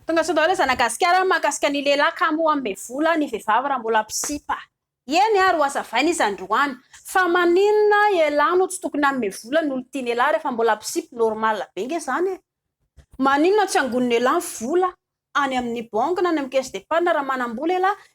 Tonga sao daholo zanagasikara ny mahakasika ny lehilahy kamo hanome vola ny vehivavy raha mbola mpisipa. Eny ary ho hazavaina izy androany. Fa maninona elah no tsy tokony hanome vola ny olon-tiany elah rehefa mbola mpisipa normal be nge zany e. Maninona tsy angonin'elah ny vola any amin'ny banky na any amin'ny caisse d'épargne raha manam-bola elah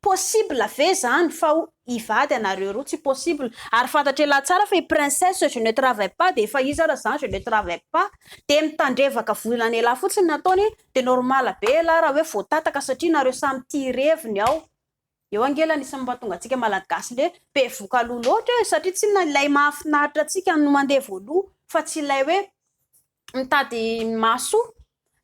Possible ve zany fa ho hivady anareo roa? Tsy possible. Ary fantatr'elah tsara fa i Princesse je ne travaille pas dia efa izy ara zany je ne travaille pas dia mitandrevaka vola an'elah fotsiny ny ataony dia normal be elah raha hoe voatataka satria nareo samy tia ireviny ao eo ange elah anisany mahatonga antsika malagasy le be voka-loha loatra e satria tsinona ilay mahafinaritra antsika no mandeha voaloha fa tsy ilay hoe mitady mahasoa?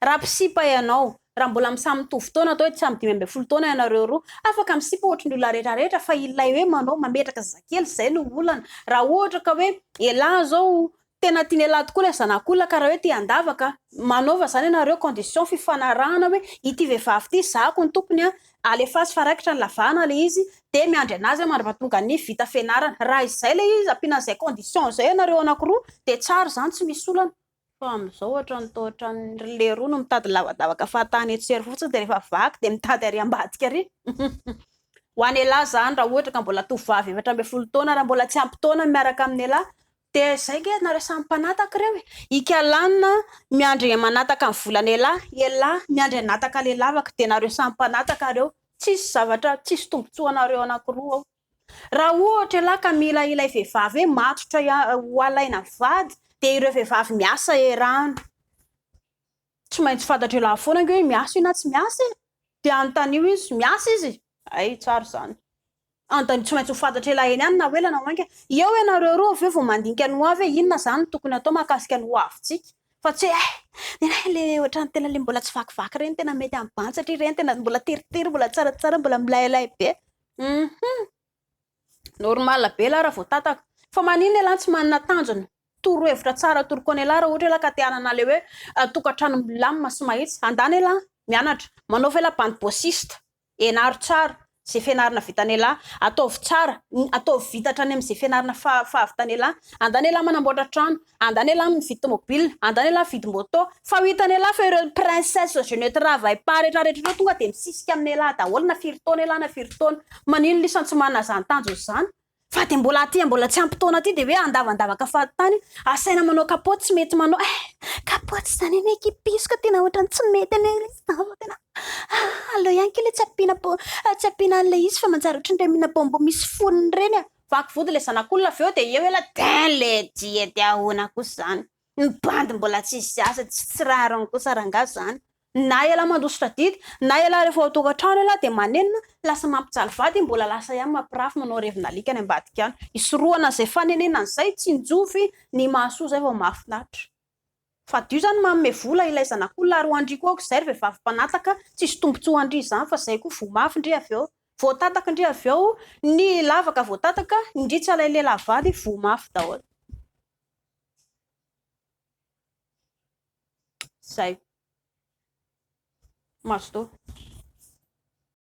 Raha mpisipa ianao, raha mbola misamy mitovy taona atao hoe samy dimy ambin'ny folo taona ianareo roa, afaka misipa ohatry ny olona rehetra rehetra fa ilay hoe manao mametraka zazakely izay no olana. Raha ohatra ka hoe elah izao tena tian'i elah tokoa ilay zanak'olona ka raha hoe te handavaka, manaova izany ianareo condition fifanarahana hoe ity vehivavy ity zahako ny tompony an, Alefaso fa raikitra ny lavahana le izy de miandry anazy aho mandra tonga ny vita fianarana. Raha izay le izy ampiana an'izay condition izay ianareo anakiroa de tsara izany tsy misy olana. Fa amin'izao ohatran'ny toa ohatran'ny ry leroa no mitady lavadavaka fahatany eto sy ery fotsiny de rehefa vaky de mitady ary ambadika ary. Ho an'ialahy izany raha ohatra ka mbola tovovavy efatra ambin'ny folo taona raha mbola tsy ampy taona miaraka amin'ialahy De zay nge nareo samy mpanataka reo e! Ika lanina miandry manataka ny volana ela ela miandry anataka le lavaka de nareo samy mpanataka reo tsisy zavatra tsisy tombotsoa anareo anakiroa ao raha ohatra ela ka mila ilay vevavy hoe matotra ho alaina vady de ireo vevavy miasa erano Tsy maintsy fantatr'i lahy foana ange hoe miasa io na tsy miasa e! Dia anontanio izy, miasa izy? Hay, tsara izany. Anontanio tsy maintsy ho fantatr'i lahy eny ihany na ho ela na ho mainka. Eo ianareo roa avy eo vao mandinika ny hoavy hoe inona izany no tokony hatao mahakasika ny hoavintsika. Fa tsy hoe hay, ny anay ilay ohatran'ny tena ilay mbola tsy vakivaky ireny, tena mety amin'ny bandy satria ireny tena mbola teritery, mbola tsaratsara, mbola milailay be. Hum-hum. Normal be lara vao tataka. Fa maninona elah tsy manana tanjona? Toro hevitra tsara toroko anay elah raha ohatra elah ka te hanana le hoe tokantrano milamina sy mahitsy. Andana elah mianatra. Manaova elah bande bossiste. Enaro tsara ze fianarana vitanay elah. Ataovy tsara, ataovy vita hatrany amze fianarana fahavitanay elah. Andana elah manamboatra trano. Andany elah mividy tomobile, andany elah mividy moto, fa ho hitany elah fa ireo princesse je ne travaille pas rehetra rehetra ireo tonga dia misisika aminy elah daholo na firy taona elah na firy taona, maninona isany tsy manana izany tanjona izany fa dia mbola aty mbola tsy ampy taona aty dia hoe andavandavaka fahatany, asaina manao kapoty tsy mety manao eh kapoty izany anie kipisko tena ohatran'ny tsy mety anie ilay izy izany fa tena ah aleo ihany kely tsy ampiana po tsy ampiana an'ilay izy fa manjary ohatran'ireny mina bonbon misy fonony ireny ah. Vaky vody le zanak'olona avy eo de eo ela din le dia de ahona kosa zany ny bandy mbola tsisy asa tsy tsy rariny kosa rangah zany na ela mandositra didy na ela refa ao tokatrano ela de manenina lasa mampijaly vady mbola lasa ihany mampirafy manao revin'alika any ambadika any hisorohana zay fanenenana zay tsinjovy ny mahasoa zay vao mahafinaritra. Fadio zany manome vola ilay zanak'olona ary hoandry koa aoka izay ry vehivavy mpanataka tsisy tombotsoa andry izany fa zay koa voa mafy ndry avy eo voatataka ndry avy eo ny lavaka voatataka ndry tsy alay lehilahy vady voa mafy daholo zay mazotoa.